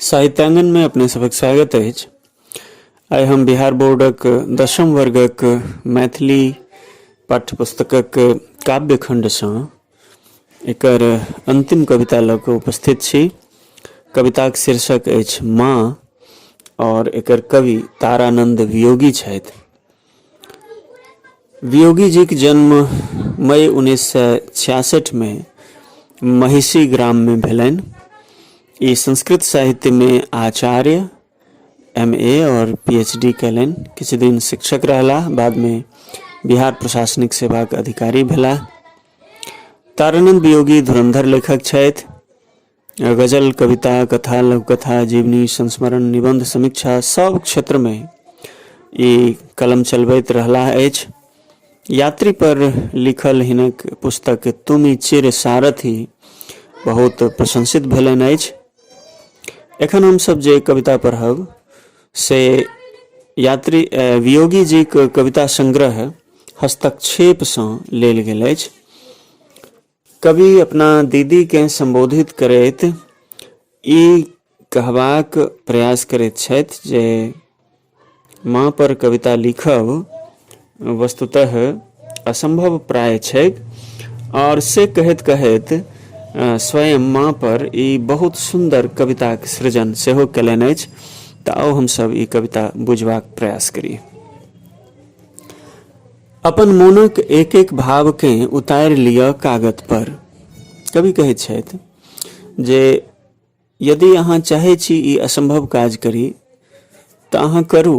साहित्यांगन में अपने सबक स्वागत है आइ हम बिहार बोर्डक दशम वर्गक मैथिली पाठ्यपुस्तकक काव्यखण्डसँ एकर अन्तिम कविता लऽ कऽ उपस्थित छी कविताक शीर्षक अछि माँ आओर एकर कवि तारानंद वियोगी छथि वियोगी जीक जन्म मई उन्नैस सए छियासठिमे महिषी ग्राममे भेलनि ई संस्कृत साहित्यमे आचार्य एम ए आओर पी एच डी कयलनि किछु दिन शिक्षक रहलाह बादमे बिहार प्रशासनिक सेवाक अधिकारी भेलाह तारानंद वियोगी धुरंधर लेखक छथि गजल कविता कथा लघुकथा जीवनी संस्मरण निबंध समीक्षा सब क्षेत्र में ई कलम चलबैत रहला अछि यात्री पर लिखल हिनक पुस्तक तुमी चिर सारथी बहुत प्रशंसित भेलनि अछि एखन हमसभ जे कविता पढ़ब से यात्री वियोगी जी के कविता संग्रह हस्तक्षेपसँ लेल गेल अछि कवि अपना दीदीकेँ सम्बोधित करैत ई कहबाक प्रयास करैत छथि जे माँ पर कविता लिखब वस्तुतः असंभव प्राय छैक और से कहैत कहैत स्वयं माँ पर ई बहुत सुन्दर कविताक सृजन सेहो कयलनि अछि तऽ आउ हमसभ ई कविता बुझबाक प्रयास करी अपन मोनक एक एक भावकेँ उतारि लिअ कागत पर कवि कहैत छथि जे यदि अहाँ चाहै छी ई असम्भव काज करी तऽ अहाँ करू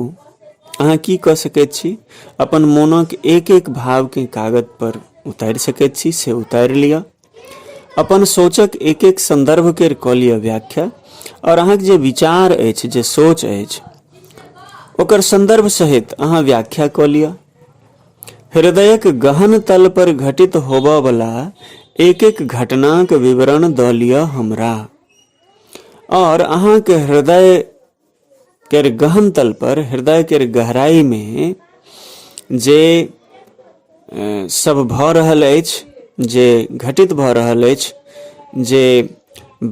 अहाँ की कऽ सकैत छी अपन मोनक एक एक भावकेँ कागजपर उतारि सकैत छी से उतारि लिअ अपन सोचक एक एक सन्दर्भके कऽ लिअ व्याख्या आओर अहाँके जे विचार अछि जे सोच अछि ओकर सन्दर्भ सहित अहाँ व्याख्या कऽ लिअ हृदयक गहन तल पर घटित होबऽ वाला एक एक घटनाक विवरण दऽ लिअ हमरा और अहाँ के हृदय केर गहन तल पर हृदय केर गहराई में जे सब भऽ रहल अछि जे घटित भऽ रहल अछि जे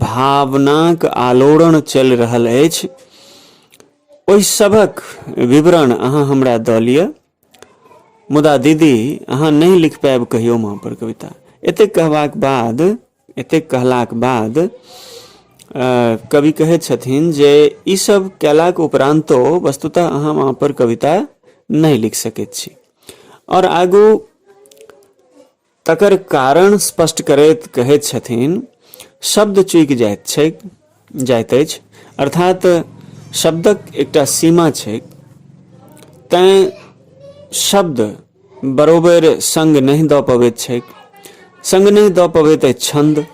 भावनाक आलोड़न चलि रहल अछि ओहि सभक विवरण अहाँ हमरा दऽ लिअ मुदा दीदी अहाँ नहि लिख पायब कहियो माँ पर कविता एतेक कहबाक बाद एतेक कहलाक बाद कवि कहै छथिन जे ई सब कयलाक उपरान्तो वस्तुतः अहाँ माँ पर कविता नहि लिख सकैत छी आओर आगू तकर कारण स्पष्ट करैत कहैत छथिन शब्द चूकि जाइत छै जाइत अछि अर्थात शब्दक एकटा सीमा छै तैँ शब्द बरोबर संग नहि दऽ पबैत छैक संग नहि दऽ पबैत अछि छन्द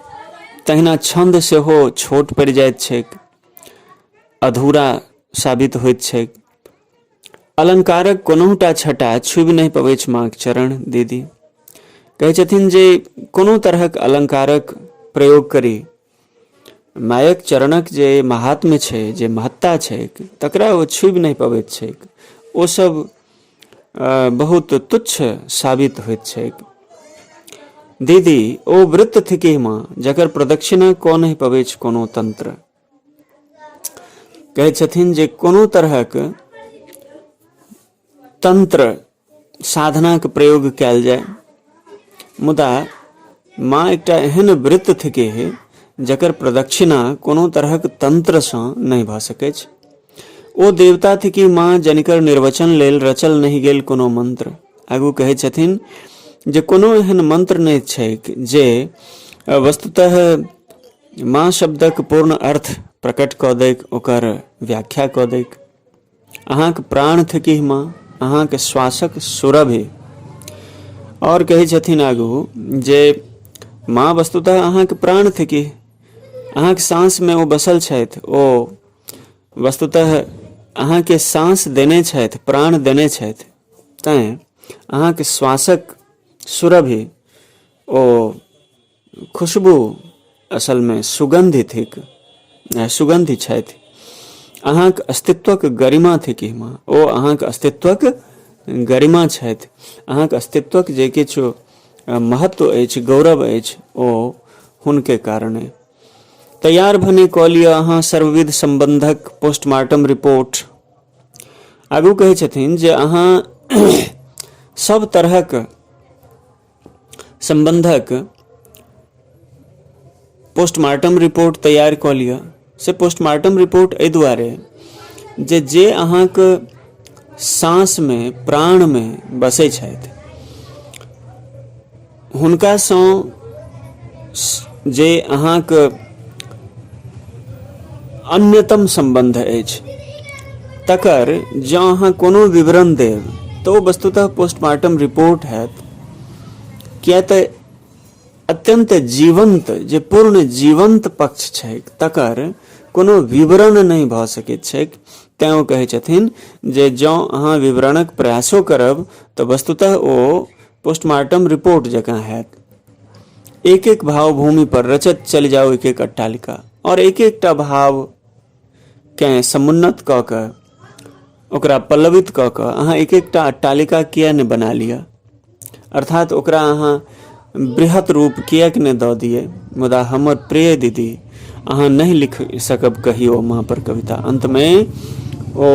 तहिना छन्द सेहो छोट पड़ि जाइत छैक अधूरा साबित होइत छैक अलंकारक कोनहुटा छटा छुबि नहि पबैत अछि माँक चरण दीदी कहै छथिन जे कोनो तरहक अलंकारक प्रयोग करी मायक चरणक जे महात्म छै जे महत्ता छै तकरा ओ छुबि नहि पबैत छै ओ सब बहुत तुच्छ साबित होइत छै दीदी ओ वृत्त थिके माँ जकर प्रदक्षिणा कऽ नहि पबैत कोनो तंत्र कहै छथिन जे कोनो तरहक तंत्र साधनाक प्रयोग कयल जाय मुदा माँ एकटा एहन वृत्त थिके हे जकर प्रदक्षिणा कोनो तरहक तंत्रसँ नहि भऽ सकैत छै ओ देवता थिकी माँ जनिकर निर्वचन लेल रचल नहि गेल कोनो मंत्र आगू कहै छथिन जे कोनो एहन मंत्र नहि छैक जे वस्तुतः माँ शब्दक पूर्ण अर्थ प्रकट कऽ दैक ओकर व्याख्या कऽ दैक अहाँक प्राण थकी माँ अहाँके श्वासक सुरभि आओर कहै छथिन आगू जे माँ वस्तुतः अहाँके प्राण थकी अहाँके साँसमे ओ बसल छथि ओ वस्तुतः अहाँके साँस देने छथि प्राण देने छथि तैँ अहाँके श्वासक सुरभि ओ खुशबू असलमे सुगन्धि थिक सुगन्धि छथि अहाँक अस्तित्वक गरिमा थिक हिमा ओ अहाँक अस्तित्वक गरिमा छथि अहाँक अस्तित्वक जे किछु महत्व अछि गौरव अछि ओ हुनके कारणे तैयार भने कऽ लिअ अहाँ सर्वविध सम्बन्धक पोस्टमार्टम रिपोर्ट आगू कहै छथिन जे अहाँ सब तरहक सम्बन्धक पोस्टमार्टम रिपोर्ट तैयार कऽ लिअ से पोस्टमार्टम रिपोर्ट एहि दुआरे जे जे अहाँके साँसमे प्राणमे बसै छथि हुनकासँ जे अहाँके अन्यतम सम्बन्ध अछि तकर जँ अहाँ कोनो विवरण देब तऽ ओ वस्तुतः पोस्टमार्टम रिपोर्ट हैत किए तऽ अत्यंत जीवंत जे पूर्ण जीवंत पक्ष छै तकर कोनो विवरण नहि भऽ सकैत छै तैँ ओ कहै छथिन जे जँ अहाँ विवरणक प्रयासो करब तऽ वस्तुतः ओ पोस्टमार्टम रिपोर्ट जकाँ हैत एक एक भाव भूमि पर रचत चलि जाओ एक एक अट्टालिका और एक एकटा भाव केँ समुन्नत कऽ कऽ ओकरा पल्लवित कऽ कऽ अहाँ एक एकटा अट्टालिका किए नहि बना लिअ अर्थात ओकरा अहाँ बृहत रूप किएक नहि दऽ दियै मुदा हमर प्रिय दीदी अहाँ नहि लिख सकब कहियो माँ पर कविता अन्तमे ओ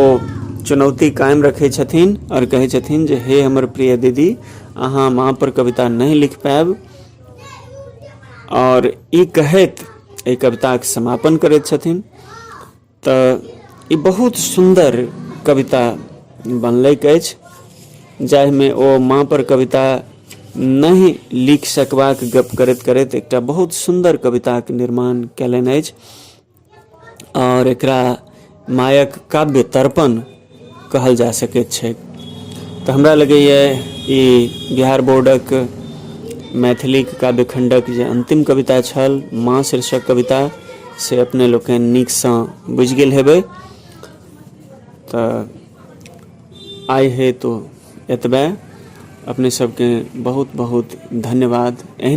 चुनौती कायम रखै छथिन आओर कहै छथिन जे हे हमर प्रिय दीदी अहाँ माँ पर कविता नहि लिख पायब आओर ई कहैत एहि कविताक समापन करैत छथिन तऽ ई बहुत सुन्दर कविता बनलैक अछि जाहिमे ओ माँ पर कविता नहि लिख सकबाक गप करैत करैत एकटा बहुत सुन्दर कविताक निर्माण कयलनि अछि आओर एकरा मायक काव्य तर्पण कहल जा सकैत छैक तऽ हमरा लगैए ई बिहार बोर्डक मैथिलीक काव्य खण्डक जे अन्तिम कविता छल माँ शीर्षक कविता से अपने लोकनि नीकसँ बुझि गेल हेबै तऽ आइ हेतु एतबे अपने सबके बहुत बहुत धन्यवाद एहन